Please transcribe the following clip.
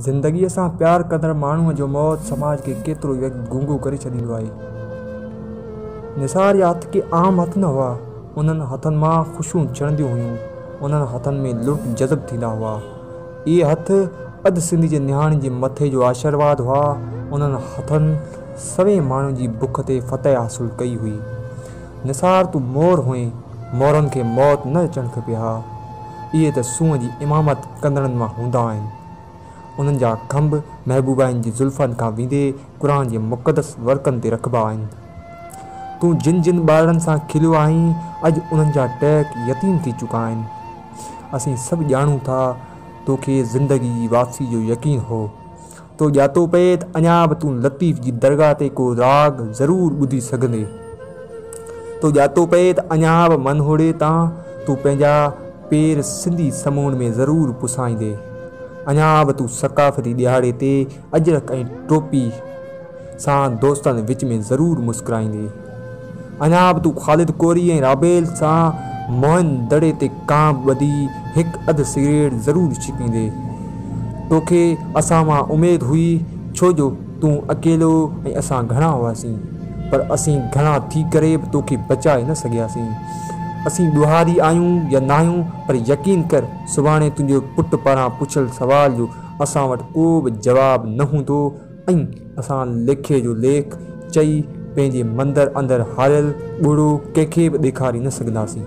زندگيء سان پيار ڪندڙ ماڻهوء جو موت سماج کي ڪيترو ئي گونگو ڪري ڇڏيندو آهي. نثار يا هٿ ڪي عام هٿ نه هئا. انهن هٿن مان خوشيون چڙهنديون هيون. انهن هٿن ۾ لڙڪ جذب ٿيندا هئا. اهي هٿ اڌ سنڌ جي نهاڻين جي مٿي جو آشيرواد هئا. انهن هٿن سوين ماڻهن جي بک تي فتح حاصل ڪئي هئي. نثار تون مور هئين. مورن کي موت نه اچڻ کپي ها. اهي ته سونهن جي امامت ڪندڙن مان هوندا آهن. انهن جا کنڀ محبوبائن جي زلفن کان ويندي قرآن جي مقدس ورقن تي رکبا آهن. تون جن جن ٻارڙن سان کليو آهين، اڄ انهن جا ٽهڪ يتيم ٿي چڪا آهن. اسين سڀ ڄاڻون ٿا، توکي زندگي جي واپسي جو يقين هو. تو ڄاتو پئي ته اڃا به تون لطيف جي درگاهه تي ڪو راڳ ضرور ٻڌي سگهندي. تو ڄاتو پئي ته اڃا به منهوڙي تان تون پنهنجا پير سنڌي سمون ۾ ضرور پسائيندي. اڃا به تون ثقافتي ڏهاڙي تي اجرڪ ۽ ٽوپي سان دوستن وچ ۾ ضرور مسڪرائيندي. اڃا به تون خالد ڪوري ۽ رابيل سان موهن دڙي تي ڪانء ٻڌي هڪ اڌ سگريٽ ضرور ڇڪيندين. توکي اسان مان اميد هئي ڇو جو تون اڪيلو ۽ اسان گهڻا هئاسين. پر اسين گهڻا ٿي ڪري به توکي بچائي نه سگهياسين. اسين ڏوهاري آهيون يا ناهيون پر يقين ڪر سڀاڻي تنهنجي پٽ پاران پڇيل سوال جو اسان وٽ ڪو به جواب نه هوندو. ائين اسان ليکي جو ليک چئي پنهنجي مندر اندر هاريل ٻڙو ڪنهن کي به ڏيکاري نه سگهنداسين.